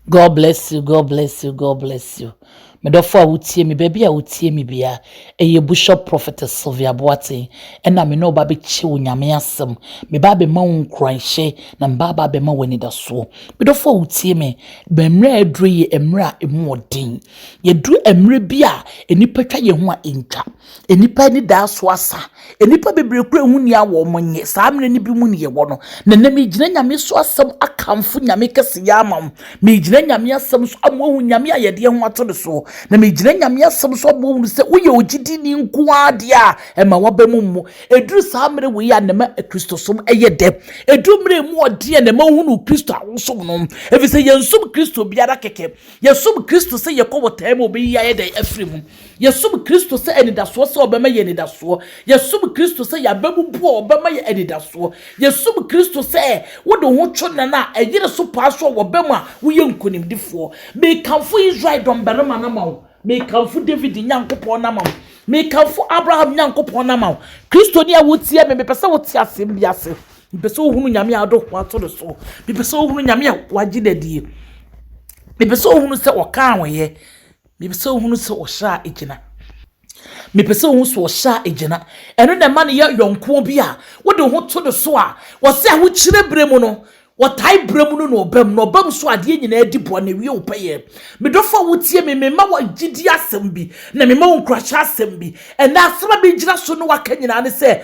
God bless you, God bless you, God bless you. Me dɔfo a wotie me baabi a wotie me bia ɛyɛ Bishop Prophet Sylvia Boateng ɛna me ne ɔba bɛkyɛ wo nyame asɛm me ba bɛma wo nkuranhyɛ na me ba ba bɛma wo anidasoɔ me dɔfo a wotie me mmerɛ a aduro yɛ mmerɛ a ɛmu ɔden yɛduru mmerɛ bi a nnipa twa yɛn ho a ɛntwa Nnipa anidaso asa. Nnipa bebree kura ehu ni a wɔn nyɛ. Saa mmerɛ no bi mu ne yɛwɔ no. Na nnɛ megyina Nyame so asɛm akamfo Nyame kɛse yɛ ama mo. Megyina Nyame asɛm so ama wɔahu Nyame a yɛde yɛn ho ato no soɔ. Na megyina Nyame asɛm so ama wɔahunu sɛ woyɛ ogyidini nko ara deɛ a ɛma w'aba mu mmu. Ɛduru saa mmerɛ wei a na ɛma Kristosom yɛ dɛ. Ɛduru mmerɛ mu ɔden a na ɛma wohunu Kristo a wosom no. Ɛfiri sɛ yɛnsom Kristo biara kɛkɛ. Yɛsom Kristo sɛ yɛkɔ botaeɛ ma ɔbɛyi yɛn ayɛ dɛn? Afiri mu. Yɛsom Kristo sɛ anidasoɔ sɛ ɔbɛma yɛ anidasoɔ. Yɛsom Kristo sɛ yɛababubu a ɔbɛma yɛ anidasoɔ. Yɛsom Kristo sɛ wode wo ho to nnan a ɛyere so paa so a wɔbam a woyɛ nkonimdifoɔ. Mekamfo Israel dɔmbarima no ama wo. Mekamfo David Nyankopɔn no ama wo. Mekamfo Abraham Nyankopɔn no ama wo. Kristoni a wotie me, mepɛ sɛ wote asɛm bi ase. Mepɛ sɛ wohunu Nyame a wode wo ho ato no so. Mepɛ sɛ wohunu Nyame a wagye no adie. Mepɛ sɛ wohunu sɛ ɔka a wɔyɛ Mepɛ sɛ ohunu sɛ ɔhyɛ a egyina. Mepɛ sɛ ohunu sɛ ɔhyɛ a egyina. Ɛno na ɛma no yɛ yɔnkoɔ bi a wode wo ho to no so a wɔse ahokyerɛ berɛ mu no wɔtae berɛ mu no na ɔba mu. Na ɔba mu so adeɛ nyinaa di boa na ɛwie wo pɛyɛ. Me dɔfo a wotie me, mema wo gyidie asɛm bi na mema wo nkuranhyɛ asɛm bi. Ɛnnɛ asɛm a megyina so ne wo aka nyinaa ne sɛ,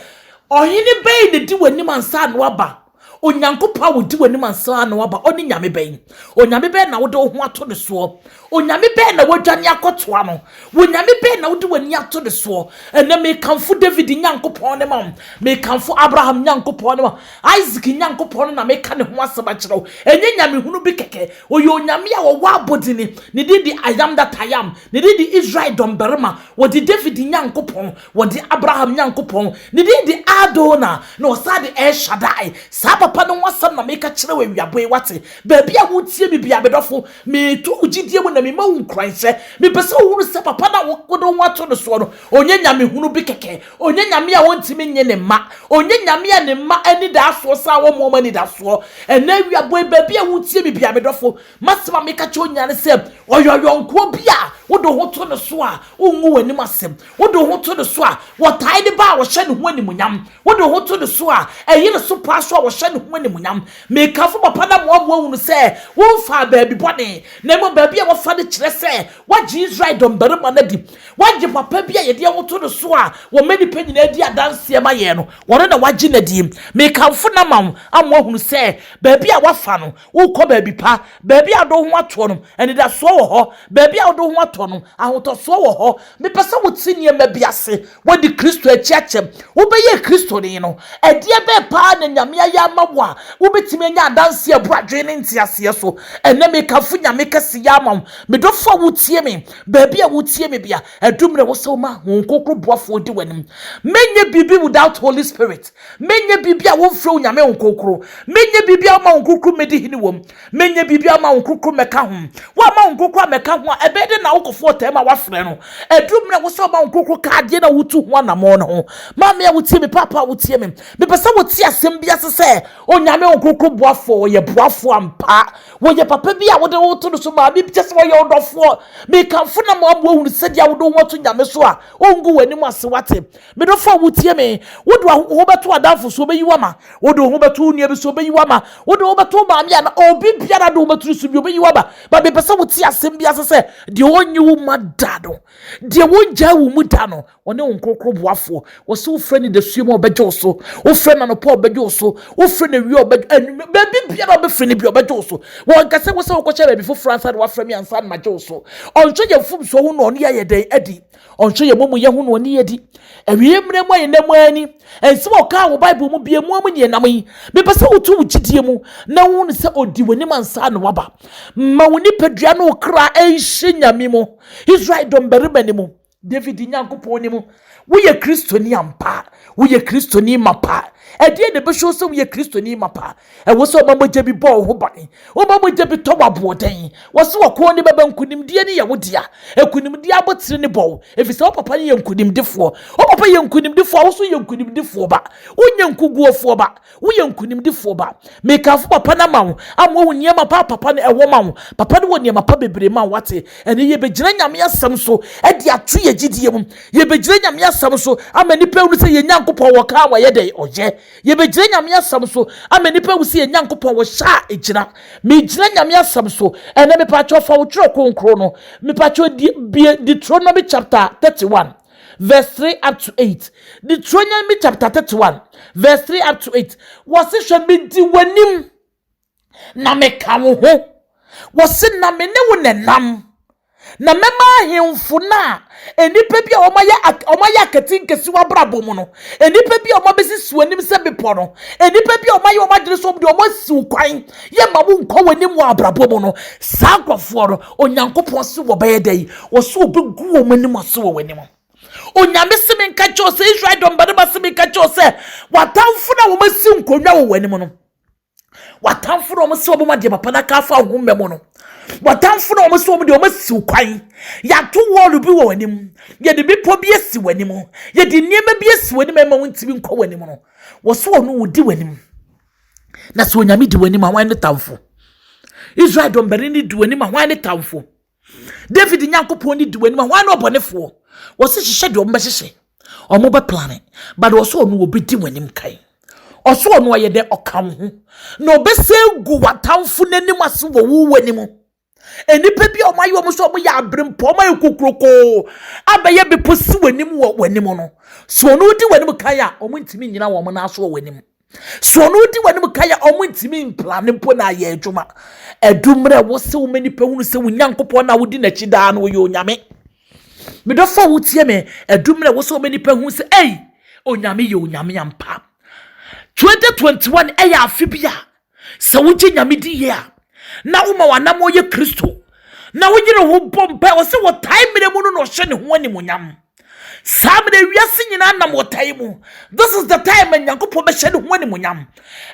Ɔhene bɛn na ɛdi w'anim ansa na waba? Onyankopɔn a odi w'anim ansa na waba, ɔne nyame bɛn? Onyame bɛn na wode wo ho ato ne soɔ? Onyame bɛn na woadwane akɔtoa no? Wonyame bɛn na wode w'ani ato ne soɔ? Ɛnɛ mekamfo David Nyankopɔn ne ma wo, mekamfo Abraham Nyankopɔn ne ma Isaac Nyankopɔn no na meka ne ho asɛm akyerɛ wo. Ɛnyɛ nyamehunu bi kɛkɛ, ɔyɛ onyame a ɔwɔ abɔdini, ne din de I am that I am, ne din de Israel dɔmbarima, ɔde David Nyankopɔn, Wɔde Abraham Nyankopɔn, ne din de Adonai, na ɔsan de El Shaddai, saa Papa no ho asɛm na meka kyerɛ wo awiabɔ yi, woate? Baabi a woretie me biara, me dɔfo, meto wo gyidie mu na mema wo nkuranhyɛ. Mepɛ sɛ wohunu sɛ Papa no a wode wo ho ato no soɔ no, ɔnyɛ nyamehunu bi kɛkɛ. Ɔnyɛ Nyame a ɔntumi nnye ne mma. Ɔnyɛ Nyame a ne mma anidaasoɔ sa a wɔmmu wɔn anidaasoɔ. Ɛnnɛ awiabɔ yi, baabi a woretie me biara, me dɔfo, m'asɛm a meka kyerɛ wo nyinaa ne sɛ, ɔyɛ ɔyɔnkoɔ bi a wode wo ho to no so a wongu w'anim ase. Wode wo ho to ne so a, wɔtae ne ba a wɔhyɛ ne ho animuonyam. Wode wo ho to ne so a, ɛyere so paa so a wɔhyɛ ne ho animuonyam. Mekamfo papa no ama wɔaboa hunu sɛ womfaa baabi bɔne, na mmom baabi a wɔafa no kyerɛ sɛ wɔagye Israel dɔmmarima no adi. Wɔagye papa bi a yɛde yɛn ho to no so a wɔma nnipa nyinaa di adanseɛ ma yɛn no, wɔno na wɔagye no adie. Mekamfo no ama wo ama wɔahunu sɛ baabi a wɔafa no, Worekɔ baabi pa, baabi a wode wo ho atoɔ no, anidasoɔ wɔ hɔ. Baabi a wode wo ho atoɔ no, ahotɔsoɔ wɔ hɔ. Mepɛ sɛ wote nneɛma bi ase, Woadi Kristo akyi akyɛm. Wobɛyɛɛ Kristoni no, ɛdeɛ bɛn paa na Nyame ayɛ ama wo a wobɛtumi anya adanseɛ a ɛbu adwene ne nteaseɛ so? Ɛnnɛ mekamfo Nyame kɛseyɛ ama wo. Me dɔfoɔ a wotie me, baabi a wotie me bia, adu mmerɛ wɔ sɛ woma Honhom Kronkron boafoɔ di w'anim. Menyɛ biribi without Holy Spirit. Menyɛ biribi a womfrɛ wo Nyame nkorkoro. Menyɛ biribi a woma wo nkorkoro mmɛdi hene wom. Menyɛ biribi a woma wo nkorkoro mmɛka ho. Woamma wo nkorkoro ammɛka ho a, ɛbɛyɛ dɛn na wokɔfa ɔtam a woafrɛ no? Aduru mmerɛ a ɛwɔ sɛ woma wo nkorkoro ka adeɛ no a wotu ho anammɔn no ho. Maame a wotie me, Paapa a wotie me, mepɛ sɛ wote asɛm bi ase sɛ, Onyame nkorkoro boafoɔ, ɔyɛ boafoɔ ampa. Ɔyɛ papa bi a wode wo ho to no so, maame bi kyerɛ sɛ ɔyɛ ɔdɔfoɔ. Mekamfo no ama woaboa ahunu sɛdeɛ a wode wo ho ato Nyame so a, ɔngu w'anim ase, woate? Me dɔfo a wutie me, wode wo ho bɛto adamfo so, obeyi wo ama. Wode wo ho bɛto wo nua bi so, obeyi wo ama. Wode wo ho bɛto wo maame anaa obi biara de wo bɛturu so bi, obeyi wo ama. Ba mepɛ sɛ wote asɛm bi ase sɛ, deɛ ɔnyi wo ma da no, deɛ ɔngyaa wo mu da no, ɔne wo nkorokoro boafoɔ. Wɔsɛ wofrɛ no dasuo mu a ɔbɛgye wo so, wofrɛ no anɔpa a ɔbɛgye wo so, wofrɛ no awia a ɔbɛgye, anwummerɛ, baabi biara a ɔbɛfiri no bi ɔbɛgye wo so. Wɔnka sɛ wosɛ wokɔhyɛ baabi foforɔ ansa na wafrɛ me ansa na magye wo so. Ɔnhwɛ yɛn mfomsoɔ ho na ɔne yɛn ayɛ dɛn adi. Ɔnhwɛ yɛn amumuyɛ ho na ɔne yɛn di. Awiei mmerɛ mu a yɛnam mu ara ni. Nsɛm a ɔkaa wɔ Bible mu bia mu ara mu neɛ nam yi, Mepɛ sɛ woto wo gyidie mu na wohunu sɛ ɔdi w'anim ansa na waba. Ma wo nipadua ne wo kra nhyɛ Nyame mu, Israel dɔmbarima no mu, David Nyankopɔn no mu. Woyɛ Kristoni ampa a? Woyɛ Kristoni mapa a? Ɛdeɛn na ɛbɛhyɛ wo sɛ woyɛ Kristoni mapa a? Ɛwɔ sɛ ɔma mogya bi bɔ wo ho ban. Woma mogya bi tɔ wo aboɔden. Wɔse ɔko ne bɛbɛ, nkonimdie ne yɛ wo dea. Nkonimdie abotire ne bɔ wo, ɛfiri sɛ wo papa no yɛ nkonimdifoɔ. Wo papa yɛ nkonimdifoɔ a, wo nso yɛ nkonimdifoɔ ba. Wonyɛ nkoguofoɔ ba, woyɛ nkonimdifoɔ ba. Mekamfo papa no ama wo, ama woahu nneɛma pa a papa no wɔ ma wo. Papa no wɔ nneɛma pa bebree ma wo, woate? Ɛnnɛ yɛbɛgyina Nyame asɛm so de ato yɛn gyidie mu. Yɛbɛgyina Nyame asɛm so ama nnipa ahunu sɛ yɛn Nyankopɔn ɔka a, wayɛ dɛn? Ɔyɛ. Yɛbɛgyina Nyame asɛm so ama nnipa ahu sɛ yɛn Nyankopɔn wɔ hyɛ a ɛgyina. Megyina Nyame asɛm so. Ɛnɛ mepakyɛw fa wo twerɛ kronkron no. Mepakyɛw di, bie Deuteronomy chapter 31 verse 3 up to 8. Deuteronomy chapter 31 verse 3 up to 8. Wɔse hwɛ medi w'anim. Na meka wo ho. Wɔse na me ne wo na ɛnam. Na mɛma ahemfo no a nnipa bi a wɔayɛ wɔayɛ akati nkesi wɔn abrabɔ mu no, nnipa bi a wɔabesisi wɔn anim sɛ bepɔ no, nnipa bi a wɔayɛ wɔn adwene sɛ wɔn de wɔn asiw kwan, yɛmma wo nkɔ wɔn anim wɔ abrabɔ mu no, saa nkurɔfoɔ no, Onyankopɔn se wɔbɛyɛ dɛ yi, wɔse wɔbɛgu wɔn anim ase wɔ w'anim. Onyame se menka kyerɛ wo sɛ, Israel dɔmbarima se menka kyerɛ wo sɛ, w'atamfo no a wɔasi nkonnwa wɔ w'anim no, W'atamfo na wɔn sɛ wɔn ma deɛ papa no aka afa wo ho mmɛ mu no. W'atamfo na wɔn sɛ wɔn deɛ wɔn asiw kwan. Yɛato wɔɔlo bi wɔ w'anim. Yɛde bepɔ bi asi w'anim. Yɛde nneɛma bi asi w'anim ɛma wontumi nkɔ w'anim no. Wɔso ɔno odi w'anim. Na sɛ onyame di w'anim a, hwan ne tamfo? Israel dɔmbarima di w'anim a, hwan ne tamfo? david nyankopɔn ne di w'anim a wɔn ne ɔbɔnefoɔ wɔsi hyehyɛ deɛ wɔbɛhyehyɛ wɔn bɛ plane but wɔsɔ ɔno wɔbɛdi w'anim kan ɔsɔ ɔno ɔyɛ dɛ ɔka wo ho na ɔbɛsɛ gu w'atamfo n'anim ase wɔ wo w'anim nnipa bi a wɔn ayɛ wɔn sɛ wɔn yɛ abirempɔ wɔn ayɛ kokurokoo abɛyɛ bepɔ si w'anim wɔ w'anim no so ɔno di w'anim kan a wɔn ntumi nyina wɔn nan so wɔ w'anim So ɔno odi w'anim kan a ɔmo ntumi mplane mpo na ayɛ adwuma. Ɛdu mmerɛ wo se woma nipa hunu sɛ wo Nyankopɔn na wodi n'akyi daa no ɔyɛ Onyame. Me dɔfo a wotie me, ɛdu mmerɛ wo se woma nipa hunu sɛ ei, Onyame yɛ Onyame ampa. 2021 ɛyɛ afe bi a sɛ wogye Nyame di yie a na woma w'anammɔ yɛ Kristo na woyere ho bɔ mpae ɔse wɔtae mmerɛ mu no na ɔhyɛ ne ho animonyam. saa mmerɛ wiase nyinaa nam ɔtae mu this is the time a nyankopɔn bɛhyɛ ne ho animonyam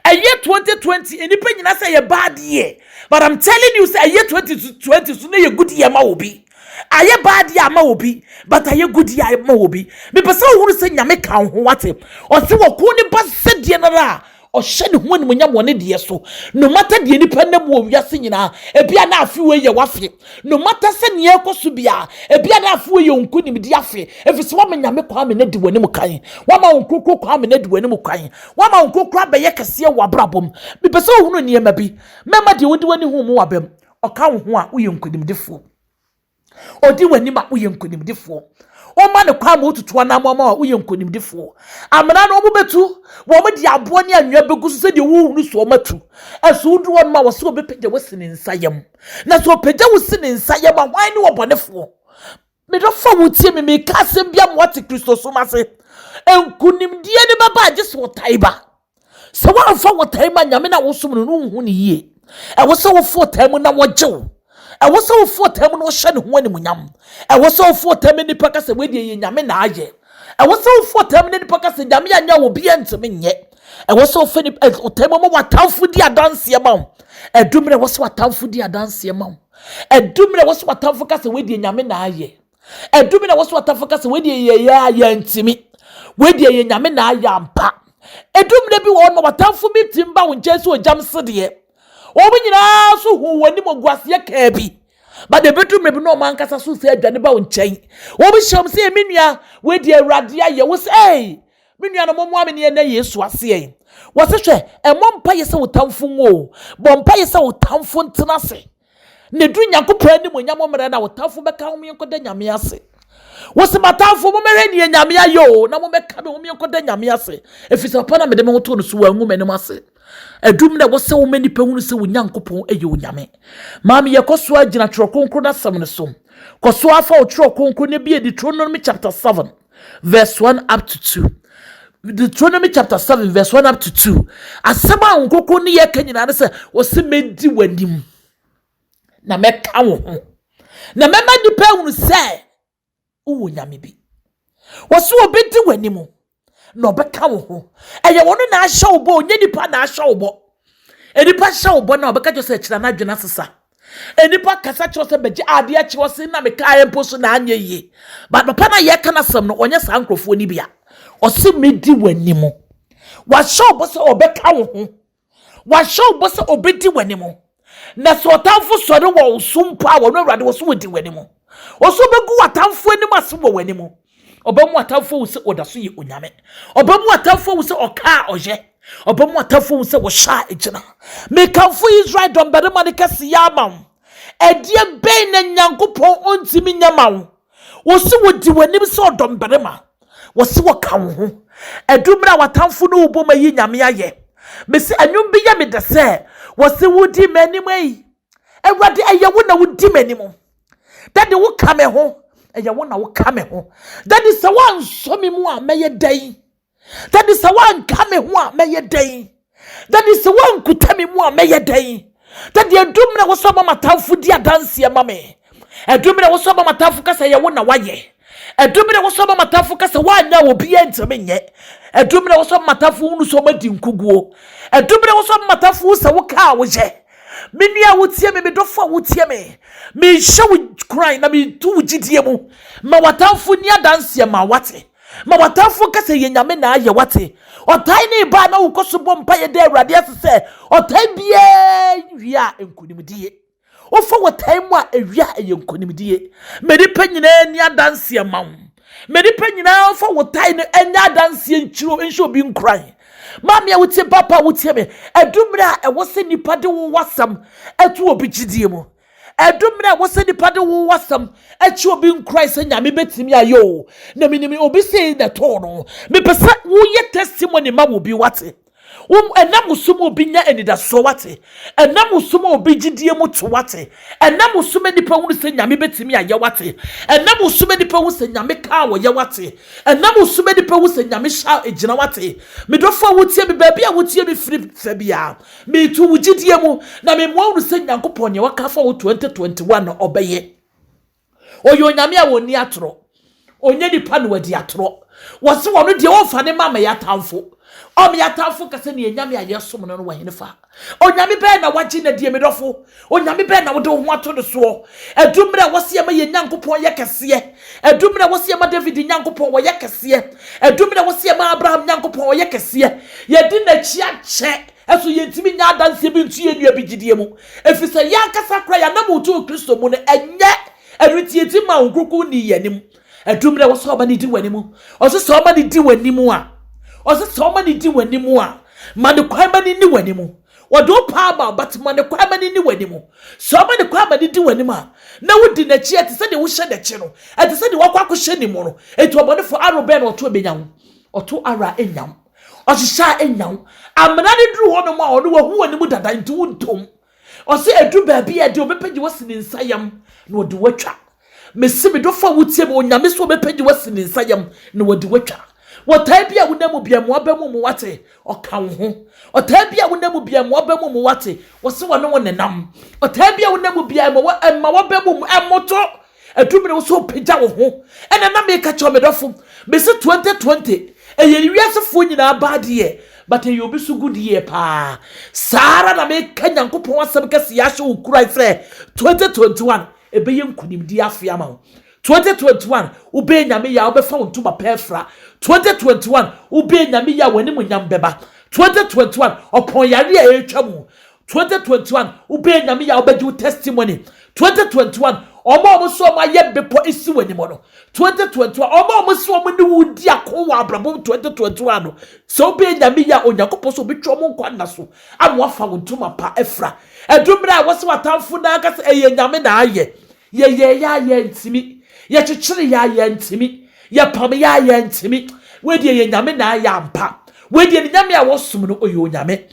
ɛyɛ 2020 nnipa nyinaa sɛ ɛyɛ bad year but i'm telling you sɛ ɛyɛ 2020 so na ɛyɛ good year ma obi ayɛ bad year ama obi but ayɛ good year ama obi mepɛ sɛ wohunu sɛ nyame ka wo ho wate ɔse wɔko ne ba sɛdeɛ no ara a Ɔhyɛ ne ho animuonyam wɔ ne deɛ so. No matter deɛ nipa nam wɔ wiase nyinaa, ebi a na afe wei yɛ w'afe. No matter sɛ nea ɛrekɔ so biara, ebi a na afe wei yɛ wo nkonimdi afe, efisɛ woama Nyame Kwame no adi w'anim kan. Woama wo nkrokro Kwame no adi w'anim kan. Woama wo nkrokro abɛyɛ kɛseɛ wɔ w'abrabɔ mu. Mepɛ sɛ wohunu nneɛma bi. Mɛma deɛ wode w'ani huu mu wɔ abam. Ɔka wo ho a, woyɛ nkonimdifoɔ. Ɔdi w'anim a, woyɛ nkonimdifoɔ. Woma no kwan ma ɔtutu anammɔn ma wo a, woyɛ nkonimdifoɔ. Amena no, wɔbɛtu, wɔde aboɔ ne anwea bɛgu so sɛdeɛ wohunu so wɔatu. Nso wodu hɔnom a, wɔse wɔbɛpagya wo si ne nsa yam. Na sɛ ɔpagya wo si ne nsa yam a, hwan ne ɔbɔnefoɔ? Me dɔfoɔ a wotie me, mereka asɛm bi ama woate Kristosom ase. Nkonimdie no bɛba a, gye sɛ ɔtan ba. Sɛ woamfa wɔtae mu a Nyame na wosom no no nhu ne yie. Ɛwɔ sɛ wofa ɔtae mu na wɔgye wo. Ɛwɔ sɛ wofa ɔtae mu na wɔhyɛ ne ho animuonyam. Ɛwɔ sɛ wofa ɔtae mu nipa ka sɛ wei deɛ yɛ Nyame na ayɛ. Ɛwɔ sɛ wofa ɔtae mu na nipa ka sɛ Nyame anyɛ a obiara ntumi nyɛ. Ɛwɔ sɛ wofa ɔtae mu ma w'atamfo di adanseɛ ma wo. Ɛdu mmerɛ ɛwɔ sɛ w'atamfo di adanseɛ ma wo. Ɛdu mmerɛ ɛwɔ sɛ w'atamfo ka sɛ wei deɛ Nyame na ayɛ. Ɛdu bi na wɔso atafo ka sɛ wei deɛ yɛ yɛ a yɛntumi. Wei deɛ yɛ nyame na ayɛ ampa. Ɛdu mmerɛ bi wɔ hɔ no watamfo bi tim ba wo nkyɛn sɛ ogyam sedeɛ. Wɔn nyinaa so hu wɔn anim ɔguaseɛ kaa bi. But ɛbɛdu mmerɛ bi na wɔn ankasa so sɛ adwane ba wo nkyɛn. Wɔn hyɛ wɔn sɛ me nua wei deɛ awurade ayɛ wo sɛ ei me nua no momoa me ne ɛnɛ Yesu aseɛ. Wɔse hwɛ ɛmmɔ mpa yɛ sɛ wo tamfo nwo o bɔ mpa yɛ sɛ wo tamfo ntena ase. Na ɛduru Nyankopɔn animuonyam mmerɛ no a, wo tamfo bɛka wo menkɔda Nyame ase. Wose matamfo mommɛhwɛ neɛ Nyame ayɛ o, na mommɛka me ho menkɔda Nyame ase, ɛfiri sɛ papa na mede me ho too no so, wangu m'anim ase. Ɛdum na ɛwɔ sɛ woma nnipa hunu sɛ wo Nyankopɔn yɛ Onyame. Maame yɛ kɔ so ara gyina Twerɛ Kronkron no asɛm no so. Kɔ so ara fa wo Twerɛ Kronkron no bi adi Deuteronomy chapter 7. verse 1 up to 2. Deuteronomy chapter 7, verse 1 up to 2. Asɛm a nkoko ne yɛka nyinaa ne sɛ, wɔsi mɛdi w'anim na mɛka wo ho. Na mɛma nnipa ahunu sɛ wowɔ nyame bi. Wɔsi wɔbɛdi w'anim na ɔbɛka wo ho. Ɛyɛ wɔn na ahyɛ wo bɔ, onye nipa na ahyɛ wo bɔ. Nnipa hyɛ wo bɔ na ɔbɛka kyerɛ sɛ kyerɛ n'adwene asesa. Nnipa kasa kyerɛ sɛ bɛgye adeɛ akyɛ wɔ se na mekaeɛ mpo so na anyɛ yie but papa no a yɛka no asɛm no ɔnyɛ saa nkurɔfoɔ no bia ɔse medi w'anim wahyɛ wo bɔ sɛ ɔbɛka wo ho wahyɛ wo bɔ sɛ ɔbɛdi w'anim na sɛ ɔtamfo sɔre wɔ wo so mpo a wɔno awurade wɔ so wɔdi w'anim ɔso bɛgu w'atamfo anim ase wɔ w'anim Ɔbɛma w'atamfo ahu sɛ ɔda so yɛ onyame. Ɔbɛma w'atamfo ahu sɛ ɔkaa ɔyɛ. Ɔbɛma w'atamfo ahu sɛ wɔhyɛ a egyina. Mekamfo Israel dɔmbarima no kɛseyɛ ama wo. Ɛdeɛ bɛn na Nyankopɔn ɔntumi nyɛ ma wo? Wɔsi wɔdi w'anim sɛ ɔdɔmbarima. Wɔsi wɔka wo ho. Ɛdu mmerɛ a w'atamfo no rebom ayi Nyame ayɛ. Mese ɛnwom bi yɛ me dɛ sɛ, Wɔsi wodi m'anim ei. Awurade ɛyɛ wo na wodi m'anim. Daddy wo ka me ho, ɛyɛ wo na wo ka me ho. Daddy sɛ woansɔ me mu a mɛyɛ dɛn? Daddy sɛ woanka me ho a mɛyɛ dɛn? Daddy sɛ woankuta me mu a mɛyɛ dɛn? Daddy ɛdu mmerɛ wo sɛ ɔma m'atamfo di adanseɛ ma me. Ɛdu mmerɛ wo sɛ ɔma m'atamfo ka sɛ ɛyɛ wo na woayɛ. Ɛdu mmerɛ wo sɛ ɔma m'atamfo ka sɛ woanyɛ a obiara ntumi nyɛ. Ɛdu mmerɛ wo sɛ ɔma m'atamfo hunu sɛ wɔadi nkuguo. Ɛdu mmerɛ wo sɛ ɔma m'atamfo hu sɛ wokaa woyɛ. Me nua a wotie me, me dɔfo a wotie me, mehyɛ wo kuran na metu wo gyidie mu. Ma w'atamfo nni adanseɛ ma wate. Ma w'atamfo nka sɛ yɛ Nyame na ayɛ wate. Ɔtae ne ba a na wokɔ so bɔ mpaeɛ da Awurade ase sɛ ɔtae biara wie a nkonimdie. Wofa wɔtae mu a ɛwie a ɛyɛ nkonimdie. Ma nnipa nyinaa nni adanseɛ ma wo. Ma nnipa nyinaa mfa wɔtae no nyɛ adanseɛ nkyerɛ nhyɛ obi nkuran. Maame a wotie papa a wotie me, ɛdu mmerɛ a ɛwɔ sɛ nnipa de wo wasɛm to obi gyidie mu. Ɛdu mmerɛ a ɛwɔ sɛ nnipa de wo wasɛm kyi obi nkuran sɛ nyame bɛtumi ayɛ o. Na menim obi sei na ɛtoo no. Mepɛ sɛ woyɛ testimony ma obi wate. Wom ɛnam wo so ma obi nya anidasoɔ wate. Ɛnam wo so ma obi gyidie mu to wate. Ɛnam wo so ma nnipa hunu sɛ nyame bɛtumi ayɛ wate. Ɛnam wo so ma nnipa hunu sɛ nyame kaa wɔyɛ wate. Ɛnam wo so mɛnipa hu sɛ Nyame hyɛ a ɛgyina wate Me dɔfo a wotie me baabi a wotie me firi fa biara Meto wo gyidie mu na memoa wo no sɛ Nyankopɔn neɛ waka afa wo 2021 no ɔbɛyɛ Ɔyɛ Onyame a ɔnni atorɔ Ɔnyɛ nipa na wadi atorɔ Wɔse ɔno deɛ ɔmfa ne ma mɛyɛ atamfo Ɔmeyɛ atamfo nka sɛ neɛ Nyame a yɛsom no no wɔ henefa? Onyame bɛn na wagye no adie, me dɔfo? Onyame bɛn na wode wo ho ato no soɔ? Ɛdu mmerɛ a ɛwɔ sɛ yɛma yɛn Nyankopɔn yɛ kɛseɛ. Ɛdu mmerɛ a ɛwɔ sɛ yɛma David Nyankopɔn ɔyɛ kɛseɛ. Ɛdu mmerɛ a ɛwɔ sɛ yɛma Abraham Nyankopɔn ɔyɛ kɛseɛ. Yɛde N'akyi akyɛ. Ɛso yɛntumi nyɛ adanseɛ bi nto yɛn nua bi gyidie mu? Ɛfiri sɛ yɛn ankasa koraa yɛn ananmu nto Kristo mu no, ɛnyɛ ɛno nti yɛntumi maa Honhom Kronkron nnii yɛn anim. Ɛduru berɛ wɔsɛ ɔma ne di w'anim. Ɔsɛ sɛ ɔma ne di w'anim a. Ɔsɛ sɛ ɔma ne di w'anim a. Ma ne kwan ma ne ni w'anim. Wɔde wo paa ma but ma ne kwan ma ne ni w'anim. Sɛ ɔma ne kwan ma ne di w'anim a, na wodi n'akyi ɛte sɛ deɛ wohyɛ n'akyi no. Ɛte sɛ deɛ wakɔ akɔhyɛ ne mu no. Enti ɔbɔnefoɔ aro bɛn na ɔto ɛbɛnya wo? Ɔto aro a ɛnya wo. Ɔhyehyɛ a ɛnya wo. Amena no duru hɔnom a ɔno wahu w'anim dada nti wontom. Ɔse ɛduru baabi a deɛ ɔbɛpagya wo asi ne nsa yam na ɔde wo atwa. Mese me dɔfo a wotie me, Onyame se ɔbɛpagya wo asi ne nsa yam na ɔde wo atwa. Wɔtaa bi a wonam mu bia mmoa ba mu mu wate, ɔka wo ho. Ɔtaa bi a wonam mu bia mmoa ba mu mu wate, ɔse wɔne wo nenam. Ɔtaa bi a wonam mu bia ɛma waba mu mu ɛmmoto, Aduru bere wo sɛ wopagya wo ho. Ɛna na meka kyerɛ wo, me dɔfo, mese 2020 ɛyɛ wiasefoɔ nyinaa bad year, but ɛyɛ obi so good year paa. Saa ara na meka Nyankopɔn asɛm kɛse yi ahyɛ wo kuran sɛ 2021 ɛbɛyɛ nkunimdie afe ama wo. 2021 wobɛyɛ Nyame yɛ a wobɛfa wo ntoma pɛ afira. 2021 wobɛyɛ Nyame yɛ a w'animuonyam bɛba. 2021 ɔpɔn yareɛ a ɛretwa mu twenty twenty one wobɛyɛ nyame yɛ a wobɛgye wo testimony twenty twenty one ɔmo a ɔmo so ɔmo ayɛ bepɔ esi wɔ anim no twenty twenty one ɔmo a ɔmo so ɔmo ne wo di ako wɔ abrabɔ twenty twenty one no sɛ wobɛyɛ nyame yɛ a onyankopɔn so obetwa ɔmo nkwa nna so ama wafa wo ntoma pa afira ɛduru mmerɛ a wɔsɛ w'atamfo na aka sɛ ɛyɛ nyame na ayɛ yɛyɛ yɛ a yɛntumi yɛkyekyere yɛ a yɛntumi yɛpam yɛ a yɛntumi wɔdeɛ yɛ nyame na ayɛ ampa wɔdeɛ ne nyame a wɔsom no ɔyɛ onyame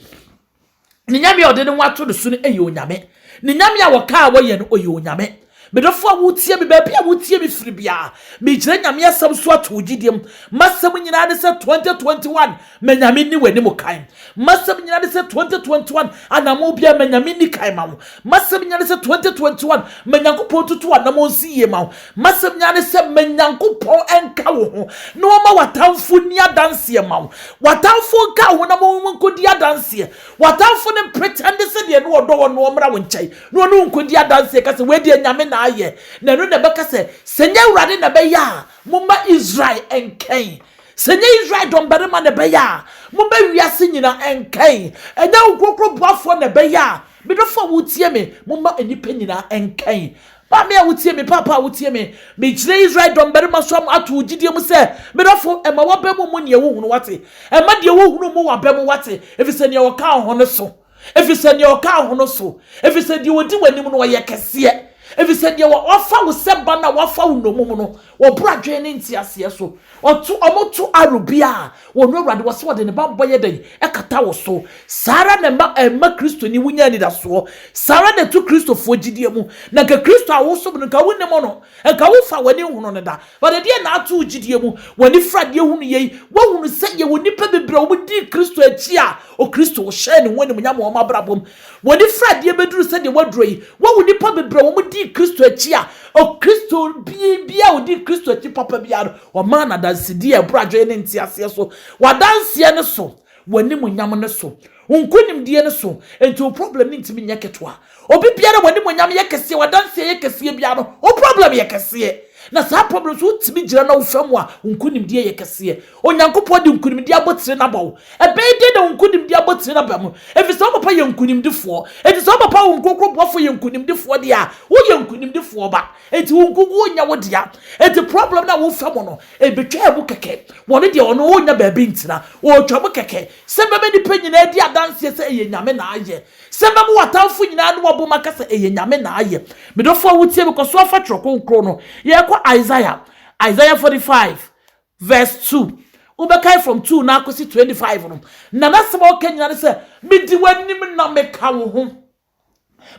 Ne nyame a ɔde ne ho ato ne so no yɛ onyame. Ne nyame a wɔka a wɔyɛ no, ɔyɛ onyame. Medɔfo a wotie me, baabi a wotie me firi biara, megyina nyame asɛm so ato wo gyidie mu. M'asɛm nyinaa ne sɛ 2021, ma nyame nni w'anim kan. M'asɛm nyinaa ne sɛ 2021, anamɔ biara ma nyame nni kan ma wo. M'asɛm nyinaa ne sɛ 2021, ma Nyankopɔn ntutu anamɔ nsi yie ma wo. M'asɛm nyinaa ne sɛ ma Nyankopɔn nka wo ho na ɔmma w'atamfo nni adanseɛ ma wo. W'atamfo nka wo ho na mo nkɔdi adanseɛ. W'atamfo no mpretɛnde sɛ deɛ na ɔdɔ wɔn no ɔmmra wo nkyɛn na ɔne wo nkɔdi adanseɛ ka sɛ, 'Wei deɛ Nyame na ayɛ. Na ɛno na ɛbɛka sɛ, 'Sɛ nyɛ Awurade na ɛbɛyɛ a, momma Israel nkɛn. Sɛ nyɛ Israel dɔmbarima na ɛbɛyɛ a, momma wiase nyinaa nkɛn. Ɛnyɛ wo nkorɔkorɔ boafoɔ na ɛbɛyɛ a, me dɔfoɔ a wotie me, momma nnipa nyinaa nkɛn. Maame a wotie me, Paapa a wotie me, megyina Israel dɔmmarima so ato wo gyidie mu sɛ me dɔfo, mma w'aba mu mmu deɛ wohunu, woate? Mma deɛ wohunu mmu w'aba mu, woate? Ɛfiri sɛ deɛ ɔka wo ho no so, ɛfiri sɛ deɛ ɔka wo ho no so, ɛfiri sɛ deɛ ɔdi w'anim no, ɔyɛ kɛseɛ, ɛfiri sɛ deɛ wafa wo sɛ ba no a wafa wo nnommum no, Wɔboro adwene ne nteaseɛ so. Ɔto, wɔto arrow biara a, wɔn Awurade, wɔse wɔde ne bammɔ yɛ dɛn? Ɛkata wo so. Saa ara na ɛma, ɛmma Kristoni wonya anidasoɔ. Saa ara na ɛto Kristofoɔ gyidie mu. Na nka Kristo a wosom no, nka wonim no. Nka womfa w'ani nhono no da. But ɛdeɛn na ato wo gyidie mu? W'ani fra adeɛ hunu yei. Woahunu sɛ yɛwɔ nnipa bebree a wɔdii Kristo akyi a, Okristo hyɛɛ ne ho animuonyam wɔ wɔn abrabɔ mu. Wɔde sradeɛ bɛduru sɛdeɛ wɔaduro yi, wɔawo nnipa bebree a wɔdii Kristo akyi a Okristo biara a ɔdii Kristo akyi papa biara no, wɔmaa no adansedie a ɛboro adwene ne nteaseɛ so, w'adanseɛ no so, w'animuonyam no so, wo nkonimdie no so, enti wo problem no ntumi nyɛ ketewa. Obi biara a w'animuonyam yɛ kɛseɛ, w'adanseɛ yɛ kɛseɛ biara no, wo problem yɛ kɛseɛ. Na saa problem nso wotumi gyina na wofa mu a, wo nkonimdie yɛ kɛseɛ. Onyankopɔn de nkonimdi abotiri no aba wo. Ɛbɛyɛ dɛn na wo nkonimdi abotiri no aba mu? Efisɛ wo Papa yɛ nkonimdifoɔ. Enti sɛ wo Papa a wo Nkronkron Boafoɔ yɛ nkonimdifoɔ deɛ a, woyɛ nkonimdifoɔ ba. Enti wo nkonko ɔnnyɛ wo dea. Enti problem no a wofa mu no, ebetwaa mu kɛkɛ. Wɔn deɛ wɔn ɔnnya baabi ntena. Ɔretwa mu kɛkɛ. Sɛ mɛma nnipa nyinaa adi adanseɛ sɛ ɛyɛ Nyame na ayɛ. Sɛ mɛma w'atamfo nyinaa ano abom aka sɛ ɛyɛ Nyame na ayɛ. Medɔfoɔ a wotie me, kɔso afa Twerɛ Kronkron no. Yɛrekɔ Isaiah. Isaiah 45. Verse two, wobɛkan from two na akɔsi twenty five no, na n'asɛm a ɔka nyinaa ne sɛ, Medi w'anim na meka wo ho,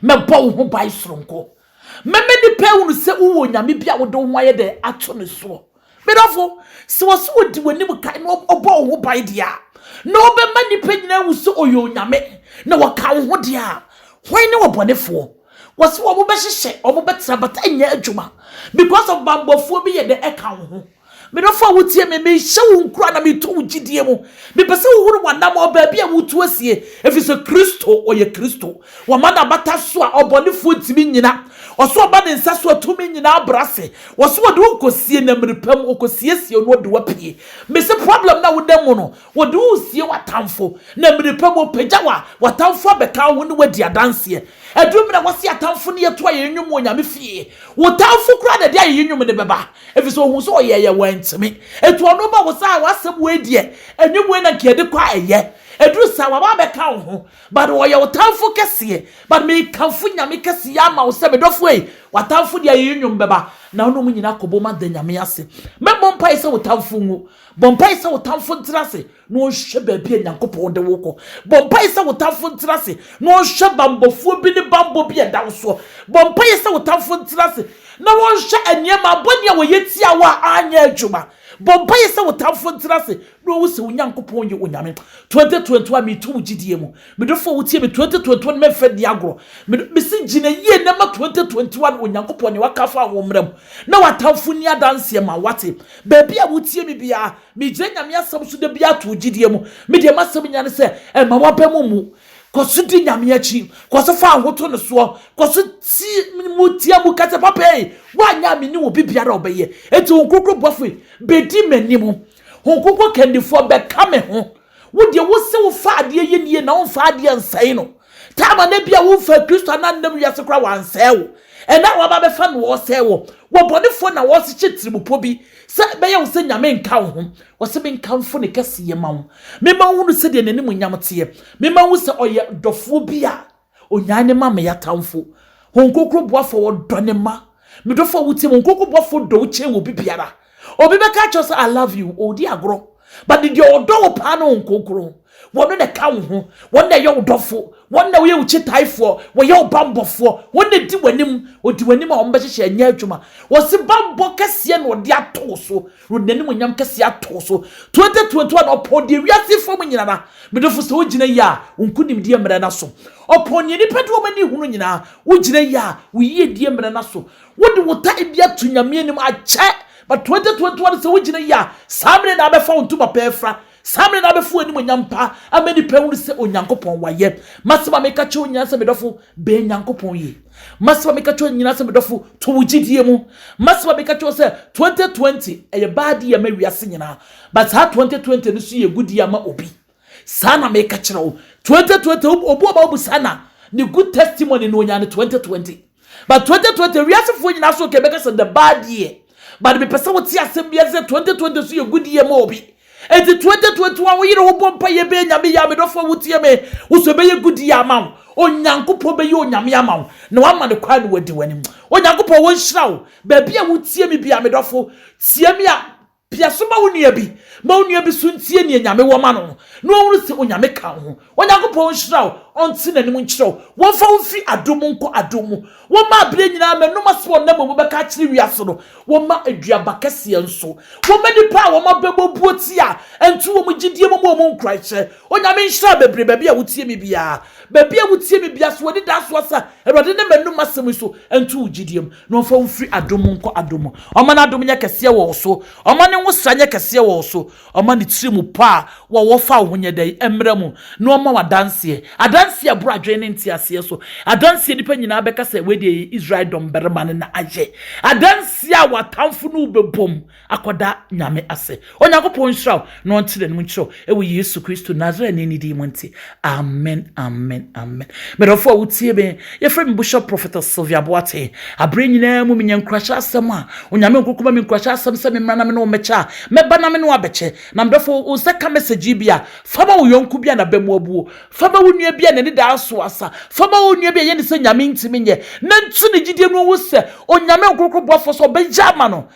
mɛbɔ wo ho ban soronko. Mɛma nnipa ahunu sɛ wowɔ onyame bi a wode wo ho ayɛ dɛ ato ne soɔ. Medɔfo, sɛ wɔ so wɔdi w'anim kan na ɔbɔ wo ho ban deɛ a, na ɔbɛma nnipa nyinaa ahu sɛ ɔyɛ onyame, na wɔka wo ho deɛ a, hwan ne ɔbɔnefoɔ? Wɔ so wɔn bɛhyehyɛ, wɔn bɛtena, but ɛnyɛ adwuma, because of bambɔfoɔ bi yɛ dɛ ɛka wo ho. Me dɔfo a wotie me, mehyɛ wo nkuran na meto wo gyidie mu. Mepɛ sɛ wohunu w'anammɔn, baabi a wotu asie, ɛfiri sɛ Kristo, ɔyɛ Kristo. Wama no abata so a ɔbɔnefoɔ ntumi nnyina. Ɔso aba ne nsa so a tumi nyinaa brɛ ase. Ɔso ɔde wo kɔsie na mmerɛ pa mu ɔkɔsiesie wo na ɔde wo apue. Mese problem no a woda mu no, ɔde wo resie w'atamfo. Na mmerɛ pa mu ɔpagya wo a, w'atamfo abɛka wo ho ne wo adi adanseɛ. Aduru mmerɛ a wɔse atamfo ne yɛto ayɛyɛ nnwom wɔ Nyame fie. Wo tamfo koraa na ɛde ayɛyɛ nnwom no bɛba. Efisɛ ohun sɛ ɔyɛ yɛ wantumi. Etu ɔno ma wo saa w'asɛm wei deɛ ɛnyɛ wei na nka yɛde kɔ a ɛyɛ. Ɛduru saa waba abɛka wo ho but ɔyɛ wo tamfo kɛseɛ but mekamfo Nyame kɛseyɛ ama wo sɛ me dɔfo ei w'atamfo deɛ ayeyi nnwom bɛba na wo ne wɔn nyinaa akɔbom ada Nyame ase. Mɛbɔ mpaeɛ sɛ wo tamfo nwu. Bɔ mpaeɛ sɛ wo tamfo ntra ase. na ɔnhwɛ baabi a Nyankopɔn de wo kɔ. Bɔ mpaeɛ sɛ wo tamfo ntra ase, na ɔnhwɛ bammɔfoɔ bi ne bammɔ bi a ɛda wo soɔ. Bɔ mpaeɛ sɛ wo tamfo ntra ase, na ɔnhwɛ nneɛma bɔne a wɔyɛ tia wo a anyɛ adwuma. Bɔ mpaeɛ sɛ wo tamfo ntra ase, na ɔhu sɛ wo Nyankopɔn yɛ Onyame. 2021 meto wo gyidie mu. Me dɔfoɔ wotie me, 2021 mɛmfa nni agorɔ. Me mese gyina yie na ma 2021 Onyankopɔn nea waka afa wo mmra mu, na w'atamfo nni adanseɛ ma wo, wate? Baabi a wotie me biara, Megyina Nyame asɛm so dabiaa too gyidie mu. Me deɛ m'asɛm nyina ne sɛ, mma w'aba mu mmu. Kɔso di Nyame akyi. Kɔso fa woho to no soɔ. Kɔso tie mu tia mu ka sɛ, Papa ei, woanyɛ a menni obi biara a ɔbɛyɛ. Enti Hon Kronkron Bɔfoɔ yi bɛdi m'anim. Hon Kronkron Kandifoɔ bɛka me ho. Wo deɛ wo se wo fa adeɛ yɛ nie na wo nfa adeɛ nsɛe no time a na bi a wo nfa Kristo a na nnam wiase kora wansɛe wo ɛna a waba bɛfa na ɔsɛe wo wɔ bɔnefoɔ na ɔsekye tirimupɔ bi sɛ bɛyɛ wo sɛ Nyame nka wo ho ɔse menkamfo ne kɛseyɛ ma wo mema wo hunu sɛdeɛ n'animuonyam teɛ mema wo sɛ ɔyɛ dɔfoɔ bi a Onyaa ne mma meyɛ atamfo. Hon Krokro boafo a ɔdɔ ne mma. Me dɔfo a wotie me, Hon Krokro boafo dɔ wo kyɛn obi biara. Obi bɛka akyerɛ wo sɛ I love you, ɔredi agorɔ. But ne deɛ ɔdɔ wo paa ne Hon Krokro. Wɔno na ɛka wo ho. Wɔno na ɛyɛ wo dɔfo. Wɔno na wɔyɛ wo kyitaefoɔ. Wɔyɛ wo bammɔfoɔ. Wɔno na ɛdi w'anim. Ɔdi w'anim a wɔbɛhyehyɛ ɛnyɛ adwuma. Wɔse bammɔ kɛseɛ na ɔde ato wo so. Wode n'animuonyam kɛseɛ ato so. 2021 no, ɔpɔn deɛ wiase fam nyinara. Me dɔfo sɛ wogyina yie a, wo nkonimdie mmrɛ n'aso. Ɔpɔn neɛ nnipa de wɔn ani hunu nyinaa. Wogyina yie a, wo yiedie mmrɛ n'aso. Wode wo ta bi ato Nyame anim akyɛ. But 2021 no sɛ wogyina yie a, saa mmerɛ no abɛfa wo ntoma pɛ afira. Saa mmere no abɛfo animuonyam pa ama nnipa ahunu sɛ Onyankopɔn wayɛ. M'asɛm a meka kyerɛ wo nyinaa sɛ me dɔfo, bɛn Nyankopɔn yie. M'asɛm a meka kyerɛ wo nyinaa sɛ me dɔfo, to wo gyidie mu. M'asɛm a meka kyerɛ wo sɛ 2020 ɛyɛ bad year ma wiase nyinaa, but saa 2020 no nso yɛ good year ma obi. Saa na meka kyerɛ wo, 2020 obi a ɔbɛba wo bu saa na ne good testimony na ɔnya no 2020. But twenty twenty wiase foɔ nyinaa so kɛ bɛka sɛ the bad deɛ but mepɛ sɛ wote asɛm bi ase sɛ twenty twenty so yɛ good year ma obi eti twenty twenty one wo yere ho bɔ mpa yɛ bɛyɛ nyame yɛ a me dɔfo a wotie me wo so ɛbɛyɛ good year ama wo onyankopɔn bɛyɛ onyame ama wo na wama ne kwan na wadi w'anim onyankopɔn wɔnhyira wo baabi a wotie me bia me dɔfo tie me a Pia so ma wo nua bi. Ma wo nua bi so ntie nea Nyame wɔ ma no no, na ɔnhunu sɛ Onyame ka wo ho. Onyankopɔn nhyira wo, ɔnte n'anim nkyerɛ wo. Wɔmfa wo mfiri adom mu nkɔ adom mu. Wɔmma aberɛ nyinaa mmanom ase wɔ nna mmamu bɛka akyerɛ wiase no. Wɔmma aduaba kɛseɛ nso. Wɔmma nnipa a wɔn abɛbɔ buo tia a ɛnto wɔn gyidie mu mu wɔn nkuranhyɛ. Onyame nhyira bebree baabi a wotie me biara. Baabi a wotie me biara, sɛ w'ani da so a sɛ, Awurade ne m'anom asɛm yi so, ɛnto wo gyidie mu. Na ɔmfa wo mfiri adom mu nkɔ adom mu. Ɔmma n'adom nyɛ kɛseɛ wɔ wo so. Ɔmma ne nwosra nyɛ kɛseɛ wɔ wo so. Ɔmma ne tiri mu pɔ a wɔwɔ fa ahonyɛda yi mmra mu, na ɔmma wo adanseɛ, adanseɛ a ɛboro adwene ne nteaseɛ so, adanseɛ a nnipa nyinaa bɛka sɛ, 'Wei deɛ ɛyɛ Israel dɔmbarima no na ayɛ, adanseɛ a w'atamfo ne wo bɛbom. akɔda Nyame ase. Onyankopɔn nhyira wo na ɔnkyerɛ ne mu nkyerɛ wo ɛwɔ Yesu Kristo Nasareni ne din mu nti. Amen, amen, amen. Medɔfo a wotie me, yɛfrɛ me Bishop Prophetess Sylvia Boateng. Aberɛ nyinaa mu menya nkuranhyɛ asɛm a Onyame Nkonkron ma me nkuranhyɛ asɛm sɛ memmra na me ne wo mmɛkyɛ a, mɛba na me ne wo abɛkyɛ. Na medɔfo, wo nsa ka message yi bi a, fa ma wo yɔnko bi a n'aba mu abuo. Fa ma wo nua bi a n'ani da aso asa. Fa ma onua bi a ɛyɛ no sɛ Nyame ntumi nyɛ, na ntu ne gyidie no ngu sɛ Onyame Nkonkron boafoɔ so ɔbɛyɛ ama no.